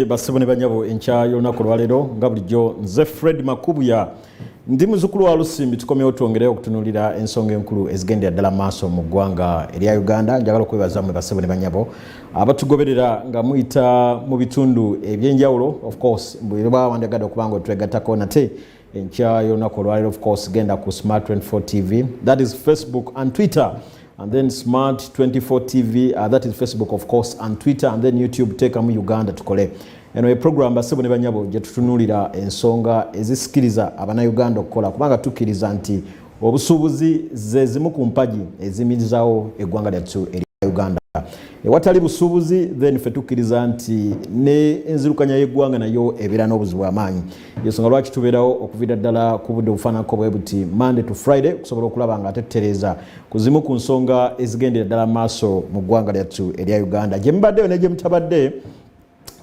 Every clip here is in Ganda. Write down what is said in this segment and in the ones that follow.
Basibu ne banyabo enkya y'olunaku olwaleero nga bulijjo nze Fred Makubuya ndi muzukulu wa Lusimbi tukomyewo twongereyo okutunulira ensonga enkulu ezigendera ddala maaso mu ggwanga erya Uganda njagala okwebaza mwe basibu ne banyabo abatugoberera nga muyita mu bitundu ebyenjawulo of course bwebawandagada okubanga otwegatako nate enkya yonaku olwalero of course genda ku smart 24 tv that is facebook and twitter and then smart 24 tv uh, that is facebook of course and twitter and then youtube teekamu uganda tukole eno ye program basebo ne banyabo gye tutunulira ensonga ezisikiriza abanauganda okukola kubanga tukkiriza nti obusuubuzi ze zimu ku mpagi ezimirizawo eggwanga lyattu erya uganda ewatali busuubuzi then fe tukkiriza nti ne enzirukanya y'eggwanga nayo ebeera n'obuzibu amaanyi yensonga lwaki tubeerawo okuvira ddala ku budde obufaananako bwe buti monday to friday okusobola okulaba nga atetereeza ku zimu ku nsonga ezigendera ddala maaso mu ggwanga lyattu erya uganda gye mubaddeyo ne gye mutabadde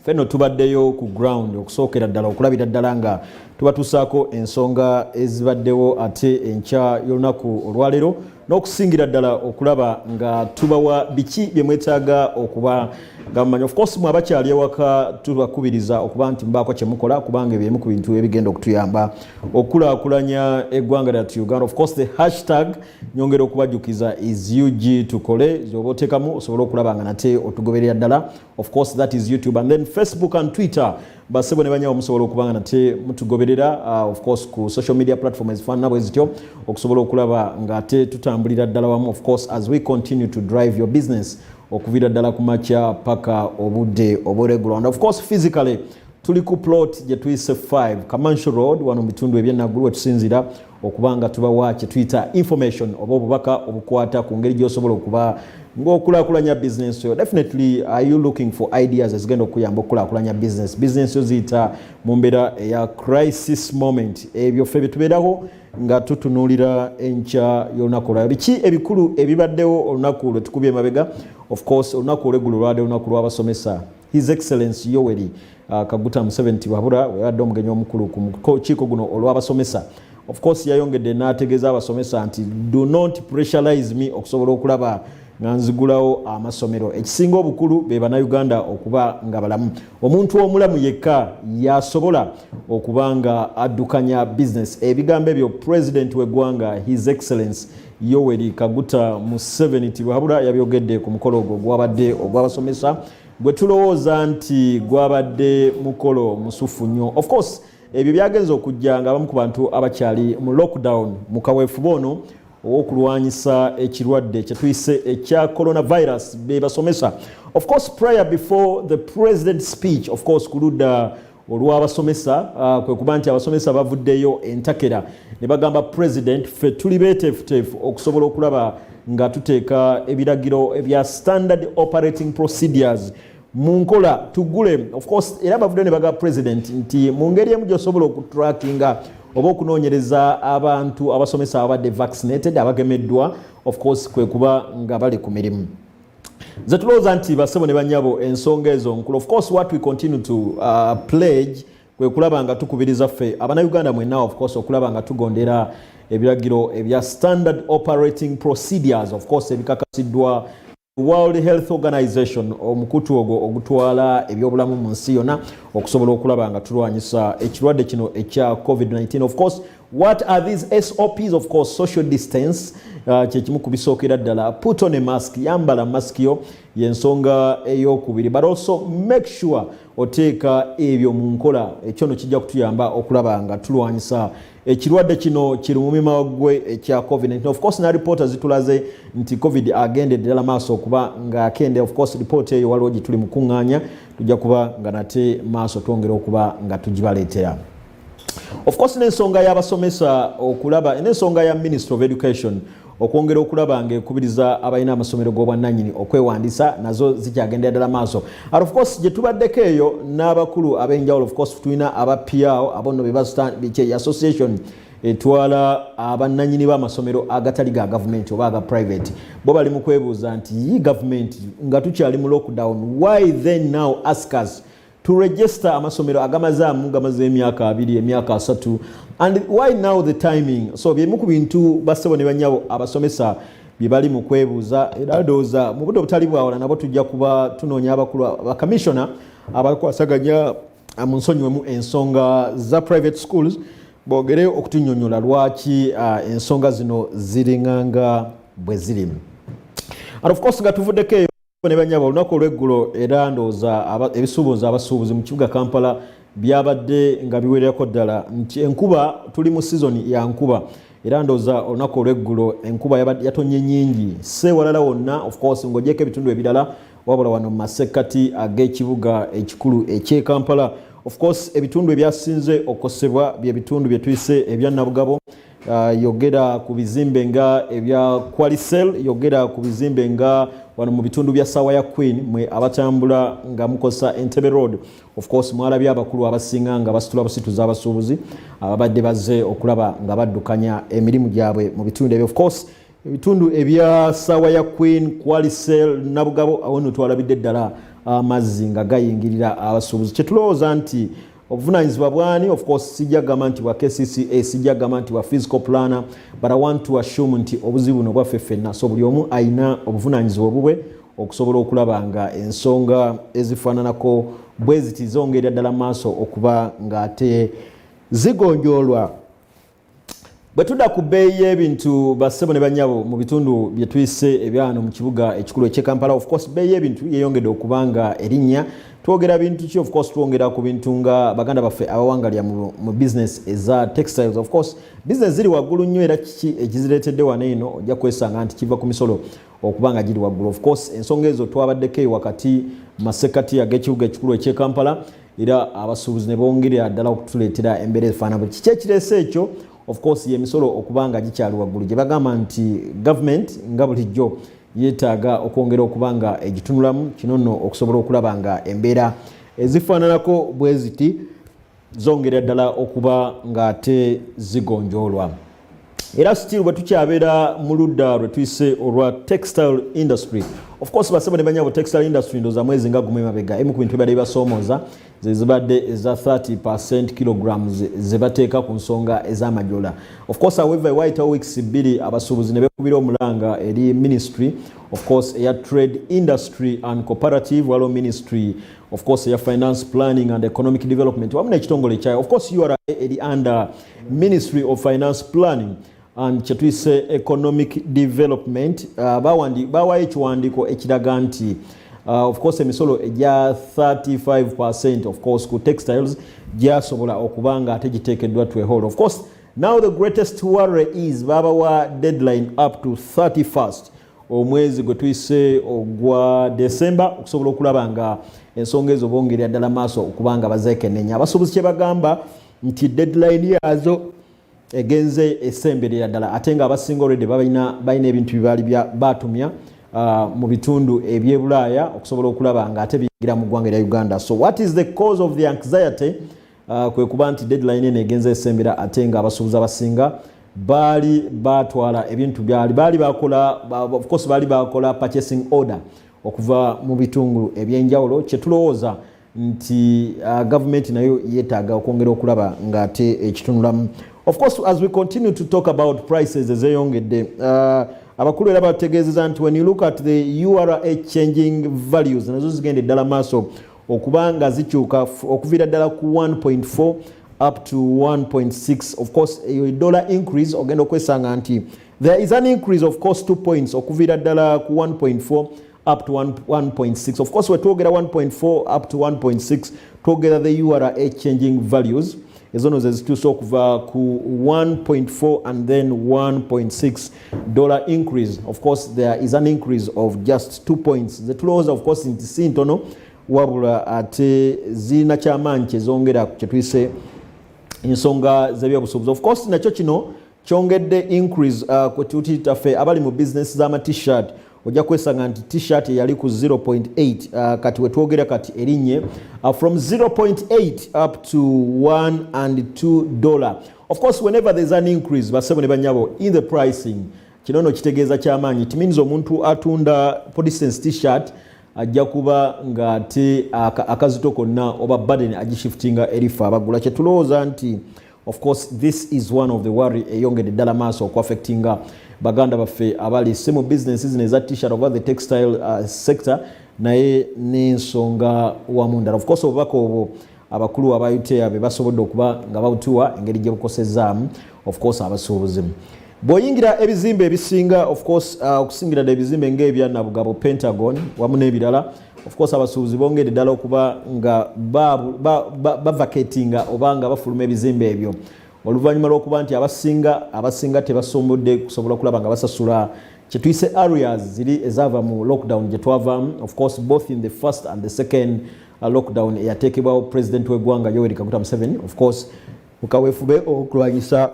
fenno tubaddeyo ku ground okusookera ddala okulabira ddala nga tubatusaako ensonga ezibaddewo ate enkya y'olunaku olwaleero n'okusingira ddala okulaba nga tubawa biki bye mwetaaga okuba nga mumanyi ofcourse mwe abakyali ewaka tubakubiriza okuba nti mubaako kye mukola kubanga ebyo emu ku bintu ebigenda okutuyamba okukulaakulanya eggwanga lyatu uganda ofcourse the hashtag nyongera okubajjukiza is ug tukole zoba otekamu osobole okulaba nga nate otugoberera ddala of course that is youtube and then facebook and twitter basebo ne banyawo musobola okuba nga nate mutugoberera uh, of course ku social media platform ezifaanana bwe zityo okusobola okulaba ng'ate tutambulira ddala wamu of course as we continue to drive your business okuviira ddala ku makya paka obudde oburegula and of course physically tuli ku plot gye tuyise 5 kamanshi road wano mu bitundu ebyenaggulu wetusinzira okuba nga tubawa kyetuyita information oba obubaka obukwata ku ngeri gyosobola okuba ngaokulakulanya business yo definitely are you looking for ideas ezigenda okuyamba okukulakulanya business business yo ziyita mu mbeera eya crisis moment ebyo ffe byetubeeraho nga tutunuulira enkya y'olunaku olwala biki ebikulu ebibaddewo olunaku lwetukubye emabega of course olunaku olweggulo lwade olunaku lwabasomesa His Excellency Yoweri uh, Kaguta Museveni Tibabura weyabadde omugenyi omukulu ku mukiiko guno olw'abasomesa of course yayongedde n'ategeeza abasomesa nti do not pressurize me okusobola okulaba nga nzigulawo amasomero ekisinga obukulu be bannayuganda okuba nga balamu omuntu omulamu yekka yasobola okuba nga addukanya bizinesi ebigambo ebyo pulezidenti w'eggwanga his excellence Yoweri Kaguta Museveni Tibuhaburwa yabyogedde ku mukolo ogwo gwabadde ogw'abasomesa gwe tulowooza nti gwabadde mukolo musuffu nnyo of course ebyo byagenza okujja nga abamu ku bantu abakyali mu lockdown mu kaweefube ono ow'okulwanyisa ekirwadde kye tuyise ekya coronavirus be basomesa of course prayer before the president speech of course ku ludda olw'abasomesa uh, kwe kuba nti abasomesa bavuddeyo entakera ne bagamba president ffe tuli beeteefuteefu okusobola okulaba nga tuteeka ebiragiro ebya standard operating procedures mu nkola tugule ofcourse era bavuddeyo ne bagamba president nti mu ngeri emu gyosobola okutrackinga oba okunoonyereza abantu abasomesa ababadde vaccinated abagemeddwa ofcourse kwe kuba nga bali ku mirimu nze tulowooza nti basebo ne banyabo ensonga ezo nkulu of course what we continue to uh, pledge kwe kulaba nga tukubiriza ffe abana uganda mwena of course okulaba nga tugondera ebiragiro ebya standard operating procedures of course ebikakasiddwa world health organization omukutu ogwo ogutwala ebyobulamu mu nsi yonna okusobola okulaba nga tulwanyisa ekirwadde kino ekya covid-19 of course What are these SOPs? Of course, social distance uh, kyekimu ku bisookera ddala put on a mask yambala mask yo yensonga eyokubiri but also make sure oteeka ebyo mu nkola ekyo no kijja kutuyamba okulaba nga tulwanyisa ekirwadde kino kiri mu mima gwe ekya covid-19 of course na ripoota zitulaze nti covid agenda eddala maaso okuba ngaakende of course ripoota eyo waliwo gye tuli mu kuŋŋaanya tujja kuba nga nate maaso twongera okuba nga tugibaleetera of course n'ensonga y'abasomesa okulaba n'ensonga ya ministry of education okwongera okulaba ng'ekubiriza abalina amasomero g'obwannanyini okwewandiisa nazo zikyagendera ddala maaso at of course gye tubaddeko eyo n'abakulu ab'enjawulo of course tulina aba piao abo nno bebasitandikye association etwala abannanyini b'amasomero agatali ga gavumenti oba aga private bo bali mu kwebuuza nti yi gavumenti nga tukyali mu lockdown why then now askers to register amasomero agamazaamu gamaze emyaka abiri emyaka asatu and why now the timing so byemu ku bintu bassebo ne banyabo abasomesa bye bali mu kwebuuza era ndowooza mu budde obutali bwawala nabo tujja kuba tunoonya abakulu bakamisiona abakwasaganya ah, mu nsonyiwemu ensonga za private schools bogere okutunyonyola lwaki ah, ensonga zino ziringanga bwe zirimu and of course nga tuvuddeko eyo ne banyabo olunaku olweggulo era ndowooza ebisuubuzi abasuubuzi mu kibuga kampala byabadde nga biwererako ddala nti enkuba tuli mu sizoni ya nkuba era ndowooza olunaku olweggulo enkuba yatonye nyingi si ewalala wonna ofcourse ng'ogyeko ebitundu ebirala wabula wano mu masekkati ag'ekibuga ekikulu ekyekampala ofcourse ebitundu ebyasinze okukosebwa bye bitundu bye tuyise ebya nabugabo Uh, yogera ku bizimbe nga ebya qualicel yogera ku bizimbe nga wano mu bitundu bya saawa ya queen mwe abatambula nga mukozesa entebe road of course mwalabye abakulu abasinga nga basitula busituza abasuubuzi ababadde uh, baze okulaba nga baddukanya emirimu gyabwe mu bitundu ebyo of course ebitundu ebya saawa ya queen qualicel nabugabo awo notwalabidde ddala amazzi uh, nga gayingirira abasuubuzi kyetulowooza nti obuvunanyizibwa bwani of course sijja gamba nti bwa kcca sijja gamba nti bwa physical planner but i want to assume nti obuzibu buno bwaffe ffenna so buli omu alina obuvunanyizibwa obubwe okusobola okulaba nga ensonga ezifaananako bweziti zongerera ddala maaso okuba ng'ate zigonjoolwa bwe tudda ku bbeeyi y'ebintu bassebo ne banyabo mu bitundu bye tuyise ebyano mu kibuga ekikulu eky'e kampala of course bbeeyi y'ebintu yeeyongedde okuba nga erinnya twogera bintu ki of course twongera ku bintu nga baganda baffe abawangalya mu business eza textiles of course business ziri waggulu nnyo era kiki ekizireetedde wano eno ojja kwesanga nti kiva ku misolo okuba nga giri waggulu of course ensonga ezo twabaddeko eyo wakati masekati ag'ekibuga ekikulu eky'e kampala era abasuubuzi ne bongerera ddala okutuleetera embeera efaana buli kiki ekireese ekyo of course yemisolo okuba nga gikyali waggulu gye bagamba nti government nga bulijjo yeetaaga okwongera okuba nga egitunulamu kino nno okusobola okulaba nga embeera ezifaananako bwe ziti zongerera ddala okuba ng'ate zigonjoolwa era still bwe tukyabeera mu ludda lwe tuyise olwa textile industry of course basebo ne banyabo textile industry ndoza mwezi nga gumu emabega emu ku bintu bibadde bibasoomooza ze zibadde eza 30 percent kilograms ze bateeka ku nsonga ez'amajola of course however waayitawo weeks bbiri abasuubuzi ne bekubira omulanga eri ministry of course eya trade industry and cooperative waliwo ministry of course eya finance planning and economic development wamu n'ekitongole kyayo of course ura eri under Ministry of Finance Planning and kyetuyise economic development uh, bawandi bawayo ekiwandiiko ekiraga nti uh, of course emisolo egya 35 percent of course ku textiles gyasobola okuba nga ate giteekeddwa twehol of course now the greatest worry is babawa deadline up to 31st omwezi gwe tuyise ogwa december okusobola okulaba nga ensonga ezo bongerera ddala maaso okuba nga bazeekenenya abasuubuzi kye bagamba nti deadline yazo egenze esemberera ddala ate nga abasinga olwedde balina ebintu byebaali batumya uh, mu bitundu ebyebulaaya okusobola okulaba nga ate biyingira mu ggwanga erya uganda so what is the cause of the anxiety uh, kwe kuba nti deadline eno egenze esembera ate nga abasuubuzi abasinga baali batwala ebintu byali baali bakola ofcourse baali bakola purchasing order okuva mu bitungulu ebyenjawulo kyetulowooza nti uh, gavumenti nayo yetaaga okwongera okulaba ng'ate ekitunulamu of course as we continue to talk about prices ezeyongedde uh, abakulu era bategeezeza nti when you look at the ura changing values nazo zigenda eddala maaso okuba nga zikyuka okuviira ddala ku 1.4 up to 1.6 of course eyo dollar increase ogenda okwesanga nti there is an increase of course two points okuviira ddala ku 1.4 up to 1.6 of course wetwogera 1.4 up to 1.6 twogera the ura changing values ezono zezituusa okuva ku 1.4 and then 1.6 dollar increase of course there is an increase of just two points zetulowooza of course nti si ntono wabula ate zirina kyamaanyi kyezongera kyetuyise ensonga zebyobusuubuzi of course nakyo kino kyongedde increase uh, kwetutitaffe abali mu business z'ama t-shirt ojja kwesanga nti t-shirt eyali ku 0.8 uh, kati wetwogera kati erinye uh, from 0.8 up to 1 and 2 dollar of course whenever there's an increase basebo ne banyabo in the pricing kino no kitegeeza kyamaanyi it means omuntu atunda for distance t-shirt ajja kuba ng'ate akazito konna oba baden agishiftinga erifa abagula kyetulowooza nti of course this is one of the worry eyongedde ddala maaso okuaffectinga baganda baffe abali si mu business zino eza t-shirt oba the textile uh, sector naye n'ensonga wamu ndala ofcourse obubaka obwo abakulu aba utea be basobodde okuba nga babutuwa engeri gye bukosezaamu ofcourse abasuubuzi bw'oyingira ebizimbe ebisinga ofcourse uh, okusingira dda ebizimbe ng'ebya nabugabo pentagon wamu n'ebirala of course abasuubuzi bongedde ddala okuba nga bavacatinga oba nga bafuluma ebizimbe ebyo oluvannyuma lw'okuba nti abasinga abasinga tebasombodde kusobola okulaba nga basasula kyetuyise areas ziri ezaava mu lockdown gye twavaamu of course both in the first and the second uh, lockdown eyateekebwawo president w'eggwanga yoweri kaguta museveni of course mukaweefube okulwanyisa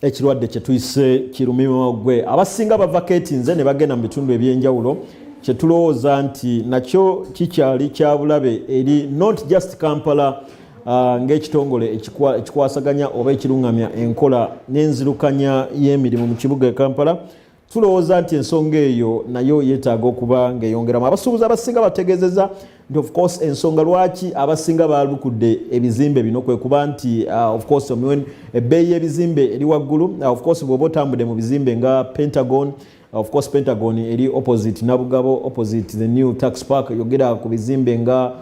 ekirwadde kyetuyise kirumima gwe abasinga bava ketinze ne bagenda mu bitundu ebyenjawulo kyetulowooza nti nakyo kikyali kyabulabe eri not just kampala uh, ng'ekitongole ekikwasaganya oba ekiruŋŋamya enkola n'enzirukanya y'emirimu mu kibuga e kampala tulowooza nti ensonga eyo nayo yeetaaga okuba ng'eyongeramu abasuubuzi abasinga bategeezeza nti ofcourse ensonga lwaki abasinga baalukudde ebizimbe bino kwe kuba nti uh, ofcourse ebbeeyi y'ebizimbe eri waggulu uh, ofcourse bw'oba otambudde mu bizimbe nga pentagon of course pentagon eri opposite nabugabo opposite the new tax park yogera ku bizimbe nga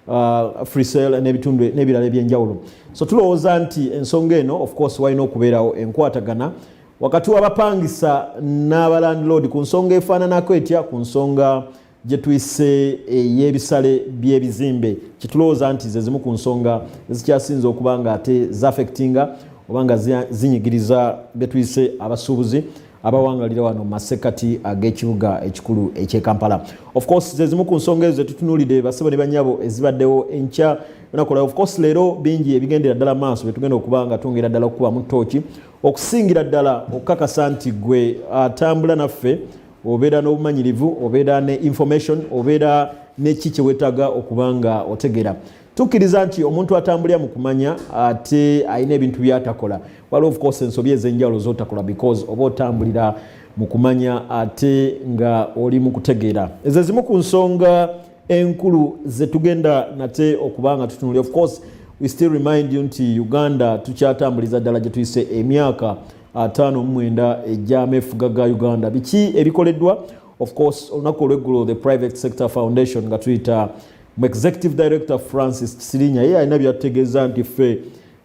uh, free sale n'ebitundu n'ebirala ebyenjawulo so tulowooza nti ensonga eno of course walina okubeerawo enkwatagana wakati w'abapangisa n'abalandiloodi ku nsonga efaananako etya ku nsonga gye tuyise ey'ebisale by'ebizimbe kitulowooza nti ze zimu ku nsonga ezikyasinze okuba nga ate zafectinga oba nga zinyigiriza be tuyise abasuubuzi abawangalira wano masekati ag'ekibuga ekikulu eky'e kampala ofcourse zezimu ku nsonga ezo zetutunuulidde basebo ne banyabo ezibaddewo enkya nakola ofcourse leero bingi ebigendera ddala maaso byetugenda okuba nga twongera ddala okukubamu tooki okusingira ddala okukakasa nti gwe atambula naffe obeera n'obumanyirivu obeera ne information obeera neki kyewetaga okuba nga otegera tukkiriza nti omuntu atambulira mu kumanya ate alina ebintu byatakola waliwo ofcourse ensobi ez'enjawulo zotakola because oba otambulira mu kumanya ate nga oli mu kutegeera ezo ezimu ku nsonga enkulu zetugenda nate okuba nga tutunuli of course we still remind you nti uganda tukyatambuliza ddala gyetuyise emyaka ataano mumwenda ejyama efuga ga uganda biki ebikoleddwa of course olunaku olweggulo the private sector foundation nga tuyita mu executive director francis kisirinya ye alina byatutegeeza nti ffe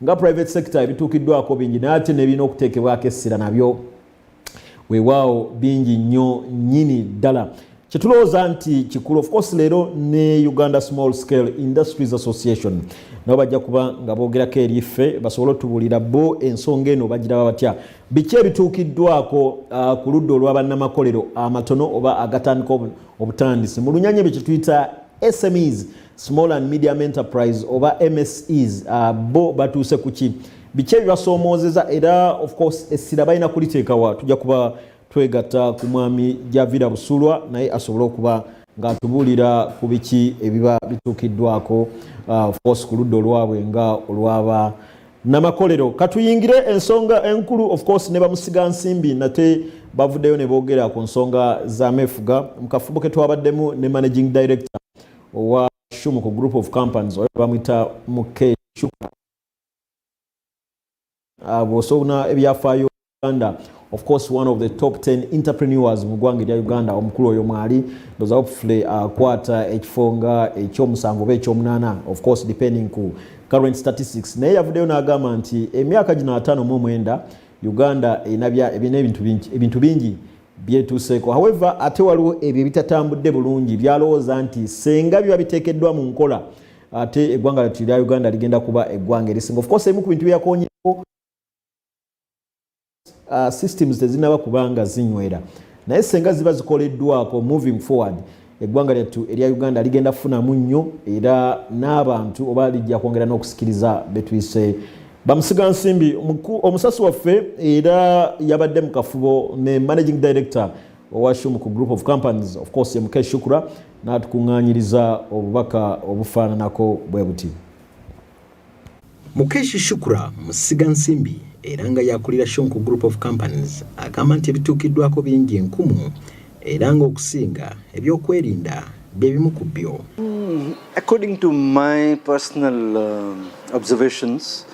nga private sector ebituukiddwako bingi naye ate nebirina okuteekebwako essira nabyo wewaawo bingi nnyo nyini ddala kyetulowooza nti kikulu ofcourse leero ne uganda small scale industries association nabo bajja kuba nga boogerako eri ffe basobole otubuulira bo ensonga eno bagiraba batya biki ebituukiddwako uh, ku ludda olwa bannamakolero amatono oba agatandika obutandisi mu lunyanya ebyo kyetuyita smes small and medium enterprise oba mses uh, bo batuuse ku ki biki ebibasoomozeza era of course essira balina kuliteekawa tujja kuba twegatta ku mwami javira busulwa naye asobole okuba ng'atubuulira ku biki ebiba bituukiddwako uh, of course ku ludda olwabwe nga olwaba namakolero katuyingire ensonga enkulu of course ne bamusiga nsimbi nate bavuddeyo ne boogera ku nsonga za mefuga mu kafubo ke twabaddemu ne managing director owa shumuko group of companies oyo bamwita muke shuka Ah, bw'osobona ebyafaayo uganda of course one of the top 10 entrepreneurs mu ggwanga erya uganda omukulu oyo mwali ndoza hopefully akwata uh, ekifo nga ekyomusanvu oba ekyomunaana of course depending ku current statistics naye yavuddeyo n'agamba nti emyaka gino ataano mu omwenda uganda erina ebintu bingi byetuuseeko however ate waliwo ebyo ebitatambudde bulungi byalowooza nti senga biba biteekeddwa mu nkola ate eggwanga lyattu erya uganda ligenda kuba eggwanga erisinga ofcourse ebimu ku bintu byeyakonyeko uh, systems tezinaba kubanga zinywera naye senga ziba zikoleddwako moving forward eggwanga lyattu erya uganda ligenda kufunamu nnyo era n'abantu oba lijja kwongera n'okusikiriza betuyise bamusiga nsimbi omusasi waffe era yabadde mu kafubo ne managing director owashum ku group of companies of course ye mukesh shukura n'atukuŋŋaanyiriza obubaka obufaananako bwe buti mukesh shukura musiga nsimbi era nga yakulira shonku group of companies agamba nti ebituukiddwako bingi enkumu era ng'okusinga ebyokwerinda bye bimu ku byo according to my personal um, observations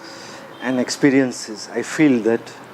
and experiences i feel that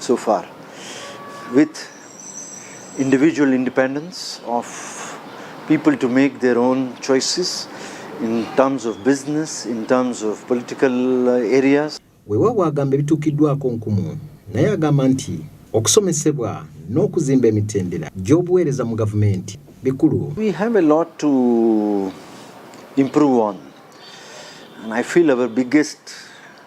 So far, with individual independence of people to make their own choices in terms of business, in terms of political uh, areas. Weewaawo agamba ebituukiddwako nkumu naye agamba nti okusomesebwa n'okuzimba emitendera gy'obuweereza mu gavumenti bikulu. We have a lot to improve on and I feel our biggest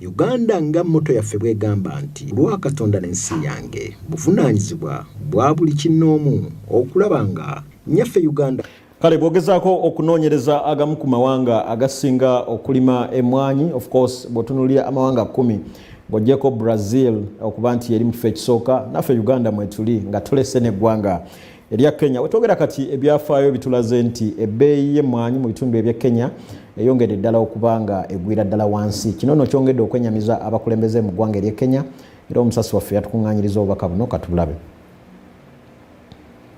Uganda nga mmoto yaffe bw'egamba nti lwa Katonda n'ensi yange buvunaanyizibwa bwa buli kinnoomu okulaba nga nnyaffe Uganda kale bwogezaako okunoonyereza agamu ku mawanga agasinga okulima emmwanyi of course bw'otunuulira amawanga kkumi bw'oggyeko Brazil okuba nti yeri mu kifo ekisooka naffe Uganda mwetuli nga tulese n'eggwanga erya Kenya. Wetwogera kati ebyafaayo bitulaze nti ebbeeyi y'emmwanyi mu bitundu eby'e Kenya eyongedde ddala okuba nga egwira ddala wansi. Kino nno kyongedde okwenyamiza abakulembeze mu ggwanga ery'e Kenya era omusasi waffe yatukuŋŋaanyiriza obubaka buno katubulabe.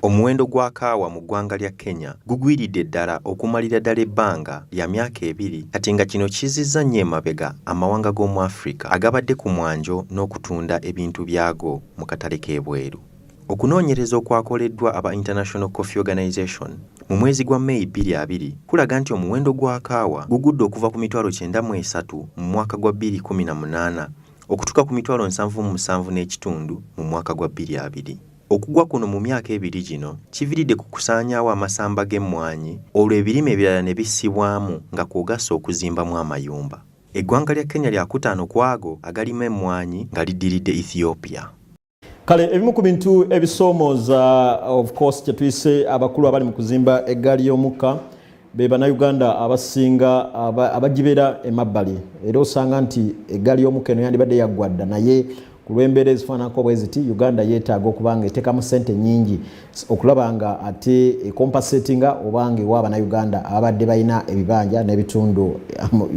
Omuwendo gwa kaawa mu ggwanga lya Kenya gugwiridde ddala okumalira ddala ebbanga lya myaka ebiri kati nga kino kizzizza nnyo emabega amawanga g'omu Afrika agabadde ku mwanjo n'okutunda ebintu byago mu katale k'ebweru. Okunoonyereza okwakoleddwa aba International Coffee Organization mu mwezi gwa May bbiri abiri kulaga nti omuwendo gwa kaawa gugudde okuva ku mitwalo kyenda mu esatu mu mwaka gwa bbiri kkumi na munaana okutuuka ku mitwalo nsanvu mu musanvu n'ekitundu mu mwaka gwa bbiri abiri. Okugwa kuno mu myaka ebiri gino kiviridde ku kusaanyaawo amasamba g'emmwanyi olwo ebirime ebirala ne bissibwamu nga kw'ogasse okuzimbamu amayumba. Eggwanga lya Kenya lyakutaano ku ago agalima emmwanyi nga liddiridde Ethiopia. kale ebimu ku bintu ebisoomooza of course kyetuyise abakulu abali mu kuzimba eggaali y'omukka be bannayuganda abasinga abagibeera emabbali era osanga nti eggaali y'omukka eno yandibadde yaggwa dda naye ku lw'embeera ezifaananako bwe ziti uganda yeetaaga okuba nga eteekamu ssente nnyingi okulaba nga ate ecompasetinga oba nga ewa abannayuganda ababadde balina ebibanja n'ebitundu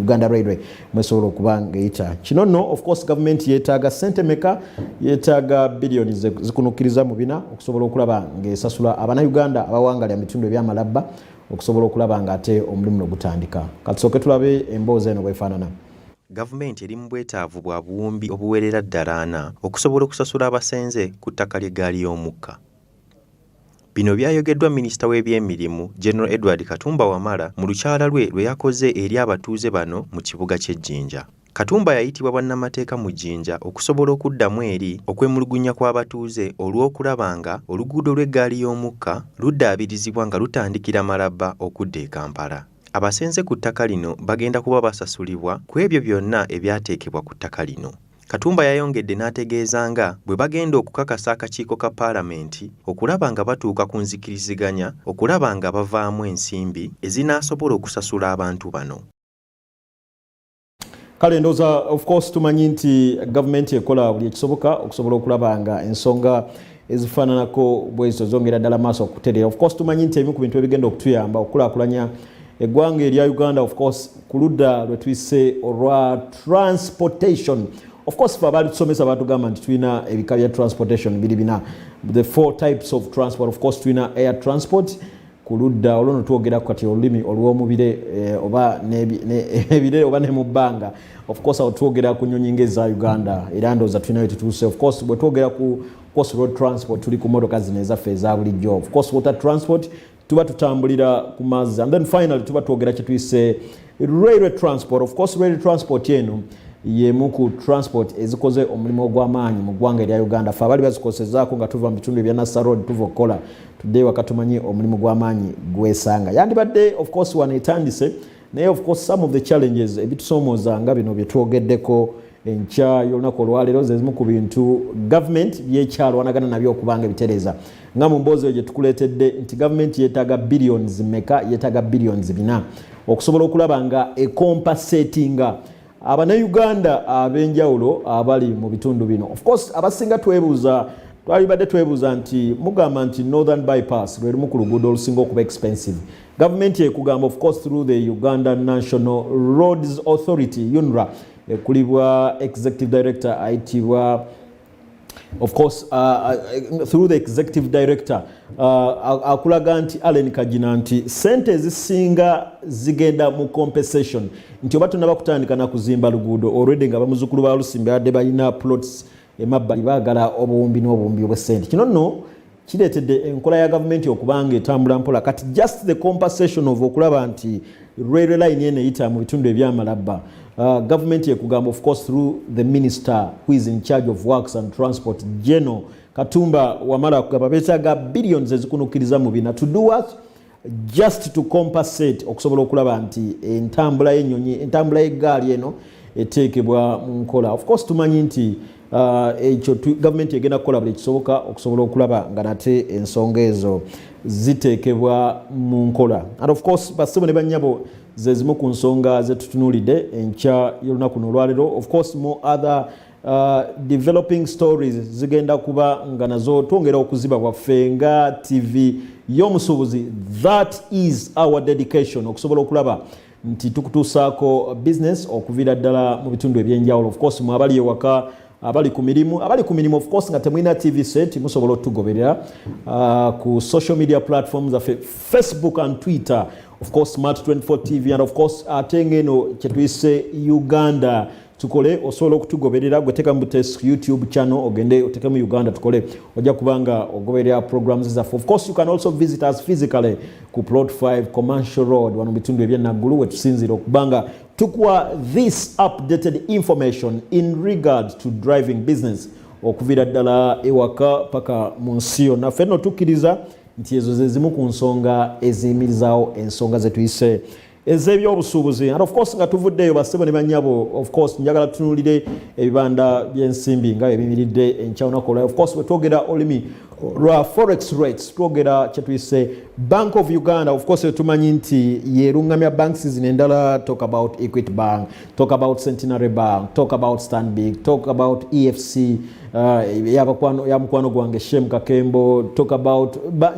uganda railway mwesobola okuba ngaeyita kino no ofcourse gavumenti yetaaga sente meka yetaaga biliyoni zikunukkiriza mu bina okusobola okulaba ngaesasula abanauganda abawangalya mitundu ebyamalabba okusobola okulaba nga ate omulimu no gutandika katusooke tulabe emboozi eno bwefaanana gavumenti eri mu bwetaavu bwa buwumbi obuwerera ddalaana okusobola okusasula abasenze ku ttaka ly'eggaali y'omukka Bino byayogeddwa minisita w'ebyemirimu, General Edward Katumba Wamala mu lukyala lwe lwe yakoze eri abatuuze bano mu kibuga ky'e Jinja. Katumba yayitibwa bwannamateeka mu Jinja okusobola okuddamu eri okwemulugunya kw'abatuuze olw'okulaba nga oluguudo lw'eggaali y'omukka luddaabirizibwa nga lutandikira Malaba okudda e Kampala. Abasenze ku ttaka lino bagenda kuba basasulibwa ku ebyo byonna ebyateekebwa ku ttaka lino. Katumba yayongedde n'ategeeza nga bwe bagenda okukakasa akakiiko ka Palamenti okulaba nga batuuka ku nzikiriziganya okulaba nga bavaamu ensimbi ezinaasobola okusasula abantu bano. kale ndoza of course tumanyi nti gavumenti ekola buli ekisoboka okusobola okulaba nga ensonga ezifaananako bwezo zongera ddala maaso okutereera of course tumanyi nti ebimu ku bintu ebigenda okutuyamba okukulakulanya eggwanga erya uganda of course ku ludda lwe tuyise olwa transportation of course fe abaali tusomesa batugamba nti tulina ebika bya transportation biri bina the four types of transport of course tulina air transport ku ludda olwo notwogerako kati olulimi olwomubire eh, oba ebire oba ne mu bbanga ofcourse awo twogera ku nyonyi nga eza uganda era ndooza tulinayo tutuuse ofcourse bwe twogera ku course road transport tuli ku motoka zino ezaffe eza bulijjo ofcourse water transport tuba tutambulira ku mazzi and then finally tuba twogera kyetuyise Railway transport, of course railway transport eno yemu ku transport ezikoze omulimu ogw'amaanyi mu ggwanga erya uganda fe abali bazikosezaako nga tuva mu bitundu ebya nassa road tuva okukola tuddeyo waka tumanyi omulimu gw'amaanyi gwesanga yandibadde of course wano etandise naye of course some of the challenges ebitusoomooza nga bino bye twogeddeko enkya y'olunaku olwaleero zezimu ku bintu gavumenti byekyalwanagana nabyo okubanga ebitereeza nga mu mboozi eyo gye tukuleetedde nti gavumenti yeetaaga billions meka yeetaaga billions bina okusobola okulaba nga ekompa setinga abanayuganda ab'enjawulo abali mu bitundu bino ofcourse abasinga twebuuza twalibadde twebuuza nti mugamba nti northern bypass lwe lumu ku luguudo olusinga okuba expensive gavumenti ekugamba ofcourse through the uganda national roads authority unra ekulibwa executive director ayitibwa of course uh, uh, through the executive director uh, akulaga nti Allen Kagina nti sente ezisinga zigenda mu compensation nti oba tunaba kutandika na kuzimba luguudo already nga bamuzukulu ba Lusimbi adde balina plots emabbali baagala obuwumbi n'obuwumbi obw'essente kino nno kireetedde enkola ya gavumenti okuba nga etambula mpola kati just the compensation of okulaba nti railway line eno eyita mu bitundu ebyamalabba uh, gavumenti ekugamba of course through the minister who is in charge of works and transport geno katumba wamala kugamba betaaga billions ezikunukkiriza mu bina to do what just to compensate okusobola okulaba nti entambula yenyonyi entambula yegaali eno eteekebwa mu nkola of course tumanyi nti uh, ekyo gavumenti egenda kukola buli kisoboka okusobola okulaba nga nate ensonga ezo ziteekebwa mu nkola and of course basebo ne banyabo zezimu ku nsonga zetutunulidde enkya yolunaku nolwalero of course more other Uh, developing stories zigenda kuba nga nazo twongera okuziba bwaffe nga tv y'omusuubuzi that is our dedication okusobola okulaba nti tukutuusaako business okuviira ddala mu bitundu ebyenjawulo ofcourse mwe abali ewaka abali ku mirimu abali ku mirimu ofcourse nga temulina tv set musobola otugoberera uh, ku social media platform zaffe facebook and twitter ofcourse smart 24 tv and ofcourse ate ngeno kyetuyise uganda tukole osobola okutugoberera gwe teka mutes youtube channel ogende oteke mu uganda tukole ojja kubanga ogoberera programs zaffe of course you can also visit us physically ku plot 5 commercial road wano bitundu ebyenaggulu wetusinzira okubanga tukuwa this updated information in regard to driving business okuvira ddala ewaka paka mu nsi yonna fenno tukkiriza nti ezo zezimu ku nsonga eziyimirizaawo ensonga zetuyise ez'ebyobusuubuzi and of course nga tuvuddeeyo bassebo ne banyabo of course njagala tutunulire ebibanda by'ensimbi nga ebimiridde enkya lunaku olwayo of course bwe twogera olulimi lwa forex rates twogera kyetuyise bank of uganda of course tumanyi nti yeruŋŋamya banks zino endala talk about equity bank talk about centenary bank talk about stanbic talk about efc uh, ya mukwano gwange shem kakembo talk about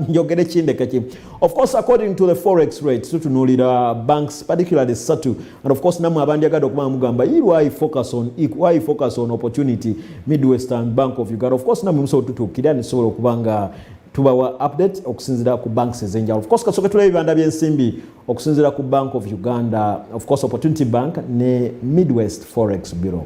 njogere kindekeki Of course according to the forex rates tutunuulira banks particularly satu and of course namwe abandyagadde okuba mugamba yi why focus on e, why focus on opportunity midwestern bank of uganda of course namwe musobola tutuukira nisobola okuba nga tubawa update okusinzira ku banks ezenjawulo of course kasooke tulaba ebibanda byensimbi okusinzira ku bank of uganda of course opportunity bank ne midwest forex bureau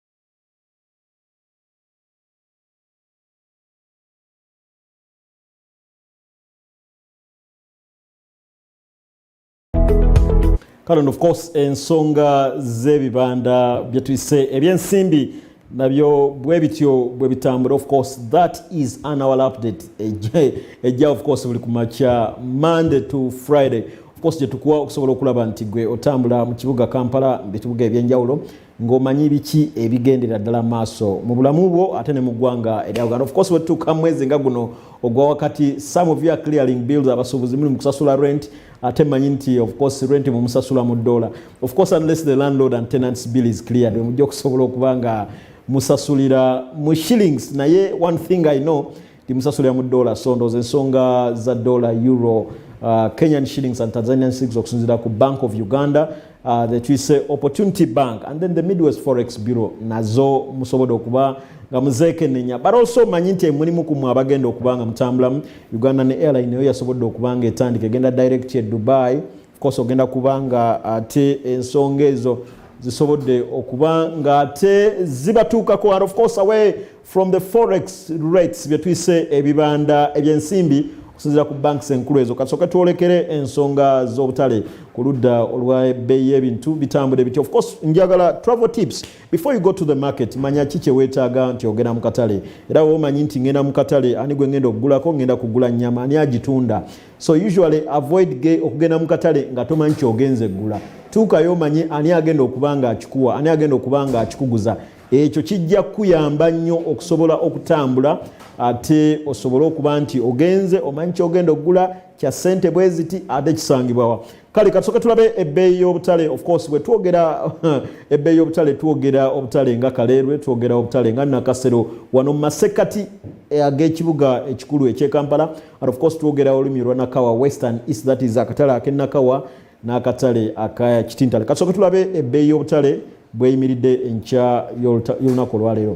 kale of course ensonga z'ebibanda byetuyise ebyensimbi nabyo bwe bityo bwe bitambula of course that is an hour update ejja of course buli kumakya monday to friday of course gyetukuwa okusobola okulaba nti gwe otambula mu kibuga kampala bikibuga ebyenjawulo ng'omanyi biki ebigendera ddala maaso mu bulamu bwo ate ne mu ggwanga erya uganda ofcourse wetutuuka mwezi nga guno ogwa wakati some of you are clearing bills abasuubuzi muli mu kusasula rent ate manyi nti ofcourse rent mumusasula mu ddoola ofcourse unless the landlord and tenants bill is cleared wemujja okusobola okuba nga musasulira mu shillings naye one thing i know timusasulira mu dola so ndooza ensonga za dola euro uh, kenyan shillings and tanzanian shillings okusinzira ku bank of uganda uh, the twise opportunity bank and then the midwest forex bureau nazo musobode okuba nga muzekenenya but also manyi nti emulimu ku mwe abagenda okuba nga mutambulamu uganda ne airline eyo yasobodde okuba nga etandika egenda direct e dubai of course ogenda kuba nga ate ensonga ezo zisobodde okuba nga ate zibatuukako and of course away From the forex rates bye tuyise ebibanda ebyensimbi okusinzira ku banks enkulu ezo kasooka twolekere ensonga z'obutale ku ludda olwa ebbeeyi y'ebintu bitambula ebiti of course njagala travel tips before you go to the market manya ki kyeweetaaga nti ogenda mu katale era womanyi nti ngenda mu katale ani gwe ngenda okugulako ngenda kugula nnyama ani agitunda so usually avoid ge okugenda mu katale nga tomanyi kyogenze eggula tuukayo omanye ani agenda okuba nga akikuwa ani agenda okuba nga akikuguza ekyo kijja kukuyamba nnyo okusobola okutambula ate osobole okuba nti ogenze omanyi kyogenda okugula kya sente bweziti ate kisangibwawa kale katusoke tulabe ebbeeyi y'obutale ofcourse bwetwogera ebbeeyi y'obutale twogera obutale nga kaleerwe twogera obutale nga nakasero wano mumasekkati eh, ag'ekibuga ekikulu ekyekampala and ofcourse twogera olulimi olwa nakawa western east that is akatale akenakawa n'akatale aka kitintale kasooke tulabe ebbeeyi y'obutale bweyimiridde enkya y'olunaku olwaleero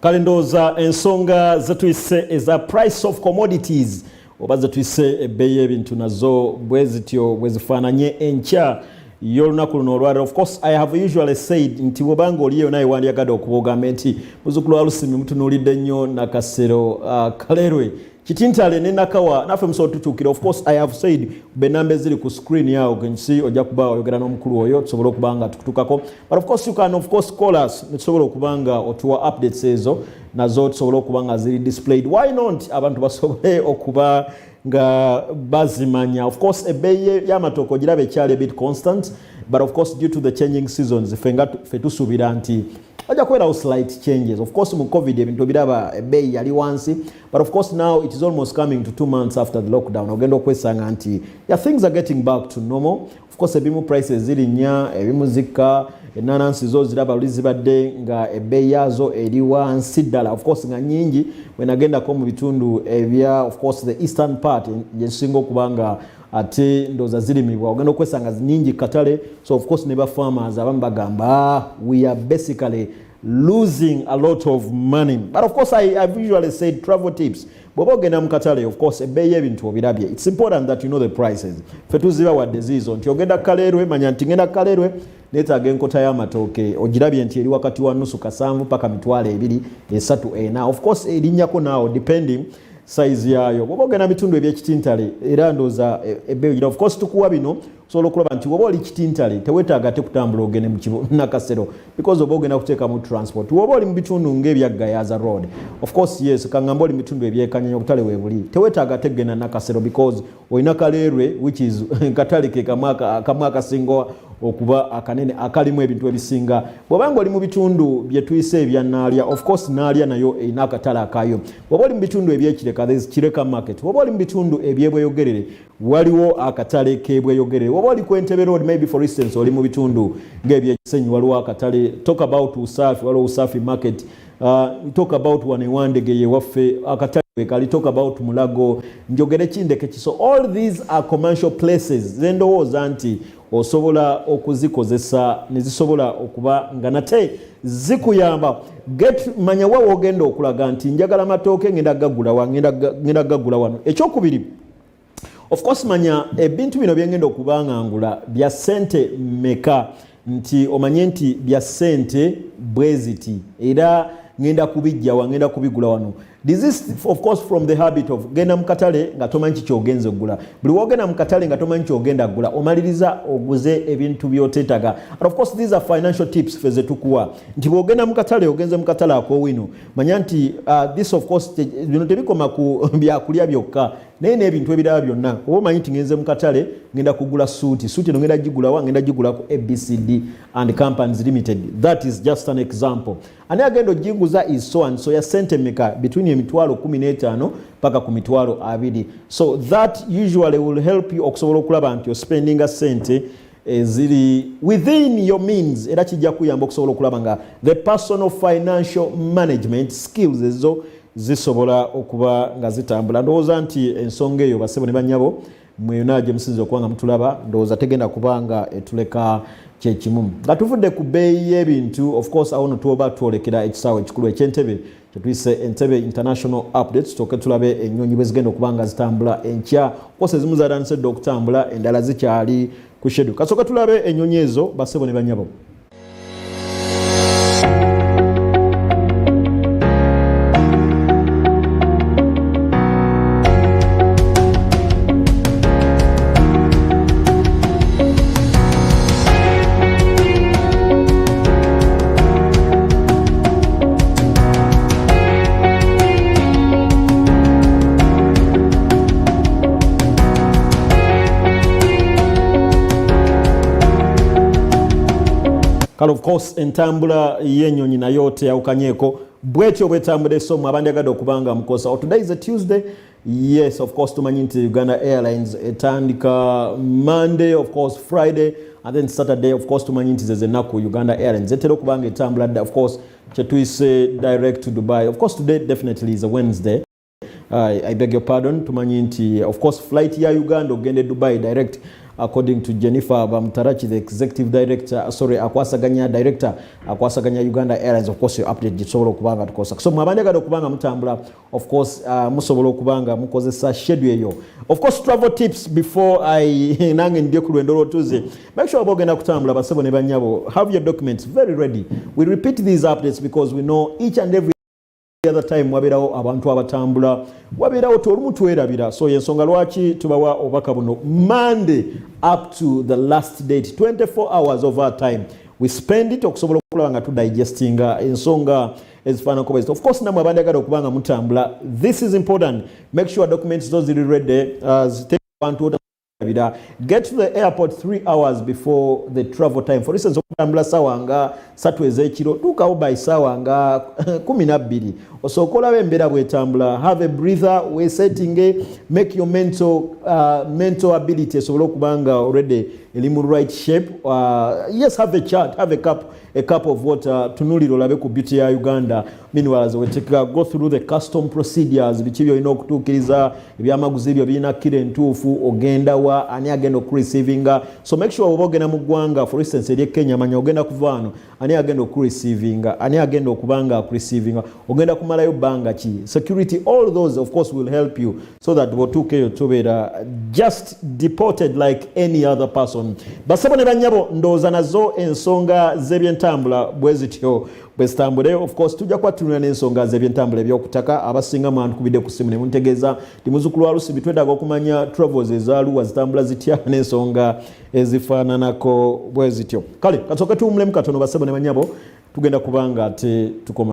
kale ndowooza ensonga zetuyise eza price of commodities oba zetuyise ebbeeyi y'ebintu nazo bwe zityo bwe zifaananye enkya y'olunaku luno olwaliro of course i have usually said nti bwobanga oliyo naye wandyagadde okuba ogambe nti muzukulu wa lusimi mutunuulidde nnyo nakasero uh, kalerwe kitintale ne nakawa naffe musobola tukyukira of course i have said benamba eziri ku screen yawo gensi ojja kuba oyogera n'omukulu oyo tusobole okuba nga tukutukako but of course you can of course call us netusobola okuba nga otuwa updates ezo nazo tusobole okuba nga ziri displayed why not abantu basobole okuba nga bazimanya of course ebbeeyi y'amatooka ogiraba ekyali a bit constant but of course due to the changing seasons fe nga fe tusuubira nti wajja kubeerawo slight changes of course mu covid ebintu obiraba ebbeeyi yali wansi but of course now it is almost coming to two months after the lockdown ogenda okwesanga nti ya things are getting back to normal of course ebimu prices zirinya ebimu zikka enanansi zo ziraba luli zibadde nga ebbeeyi yaazo eri wansi ddala of course nga nyingi wenagendako mu bitundu ebya of course the eastern part gyezisinga okuba nga ate ndoza zirimibwa ogenda okwesanga nyingi katale so of course ne ba farmers abamu bagamba ah, we are basically losing a lot of money but of course I, I've usually said travel tips bwoba ogenda mu katale of course ebbeeyi y'ebintu obirabye its important that you know the prices fe tuziba wadde ziizo nti ogenda kukaleerwe manya nti ngenda kukaleerwe neetaaga enkota y'amatooke ogirabye nti eri wakati wa nusu kasanvu paka mitwalo ebiri esatu ena of course erinnyako naawo depending sayizi yaayo bwoba ogenda bitundu ebyekitintale era ndooza ebbeeyi eh, ogira of course tukuwa bino sobola okulaba nti woba oli kitintale tewetaaga te kutambula ogende mukinakasero because oba ogenda kuteekamu transport woba oli mubitundu ngaebyaggayaza road ofcourse yes kangamba oli mubitundu ebyekanyanya obutale webuli tewetaaga te kugenda nakasero because olina kaleerwe which is katale ke kamu akasinga okuba akanene akalimu ebintu ebisinga bwobanga oli mubitundu byetuyise ebyanaalya ofcourse naalya nayo erina akatale akayo woba oli mubitundu ebyekireka kireka market woba oli mubitundu ebyebweyogerere waliwo akatale kebweyogere oba oli ku entebe road maybe for instance oli mu bitundu ngaebyekisenyi waliwo akatale talk about usafi waliwo usafi market uh, talk about wanewandegeye waffe akatale wekali talk about mulago njogere kindeke kiso all these are commercial places zendowooza nti osobola okuzikozesa nezisobola okuba nga nate zikuyamba get manya wa wogenda okulaga nti njagala matooke ngenda gagula wa ngenda gagula wano ekyokubiri of course manya ebintu bino byengenda okuba nga ngula bya sente meka nti omanye nti bya sente bweziti era ngenda kubijja wa ngenda kubigula wano this is of course from the habit of genda mu katale nga tomanyi kiki ogenza okugula buli wogenda mu katale nga tomanyi kiki ogenda kugula omaliriza oguze ebintu byoteetaga of course these are financial tips fe zetukuwa nti bwogenda mu katale ogenze mu katale akowino manya nti uh, this of course bino tebikoma ku byakulya byokka naye n'ebintu ebiraba byonna oba omanyi nti ngenze mu katale ngenda kugula suuti suuti eno ngenda gigulawa ngenda gigula ku abcd and companies limited that is just an example ani agenda oginguza is so and so ya sente meka between emitwalo 15 paka ku mitwalo abiri so that usually will help you okusobola okulaba nti ospendinga sente eziri within your means era kijja kuyamba okusobola okulaba nga the personal financial management skills ezo zisobola okuba nga zitambula ndowooza nti ensonga eyo basebo ne banyabo mweyona gye musinza okuba nga mutulaba ndowooza tegenda kuba nga etuleka kyekimu nga tuvudde ku bbeeyi y'ebintu of course awo no tuoba twolekera ekisaawe ekikulu ekyentebe tetuyise entebe international update tutoke tulabe ennyonyi bwezigenda okuba nga zitambula enkya kosa ezimu zatandise dda okutambula endala zikyali ku shedu kasooka tulabe ennyonyi ezo basebo ne banyabo kale of course entambula yenyonyi nayo teyawukanyeko bwetyo bwetambula esomu abandyagade okubanga mukosa today is a tuesday Yes, of course tumanyi nti Uganda Airlines etandika Monday, of course Friday and then Saturday of course tumanyi nti zezenaku Uganda Airlines etera okuba nga etambula dda of course kyetuyise direct to Dubai. Of course today definitely is a Wednesday. I, I beg your pardon tumanyi nti of course flight ya Uganda okugenda e Dubai direct according to Jennifer Bamtarachi the executive director uh, sorry akwasaganya director akwasaganya Uganda Airlines of course your update gisobola okuba nga tukosa so mwabanja gado kubanga mutambula of course uh, musobola okuba nga mukozesa shedu eyo of course travel tips before i nange ndye ku lwendo lwotuze make sure oba ogenda kutambula basebo ne banyabo have your documents very ready we repeat these updates because we know each and every other time wabeerawo abantu abatambula wabeerawo ti olumu twerabira so yensonga lwaki tubawa obubaka buno monday up to the last date 24 hours of our time we spend it okusobola okulaba nga tudigestinga ensonga ezifaananako bwezito of course namwe abandyagala okuba nga mutambula this is important make sure documents zo ziri ready uh, zitebantu otabira get to the airport three hours before the travel time for instance okutambula saawa nga satu ez'ekiro tuukawo by saawa nga kumi nabbiri osooka olaba embeera bwetambula have a breather wesettinge make your mental, uh, mental ability esobole okuba nga already eri mu right shape uh, yes have a chart have a cup a cup of water tunulira olabe ku beauty ya uganda meanwhile ze wetekeka go through the custom procedures biki byolina okutuukiriza ebyamaguzi byo birina kira entuufu ogenda wa ani agenda okureceivinga so make sure oba ogenda mu ggwanga for instance eri kenya manya ogenda kuva wano ani agenda okureceivinga ani agenda okuba nga akureceivinga ogenda kumalayo bbanga ki security all those of course will help you so that bwotuuka eyo tubeera just deported like any other person basebo ne banyabo ndowooza nazo ensonga z'ebyentambula bwe zityo bwe zitambule of course tujja kuba tunula n'ensonga z'ebyentambula ebyokutaka abasinga mwantukubidde ku simu ne muntegeeza ndi muzukulu wa lusibi twetaaga okumanya travels ezaluwa zitambula zitya n'ensonga ezifaananako bwe zityo kale kasooke tuwumulemu katono basebo ne banyabo tugenda kubanga ate tukoma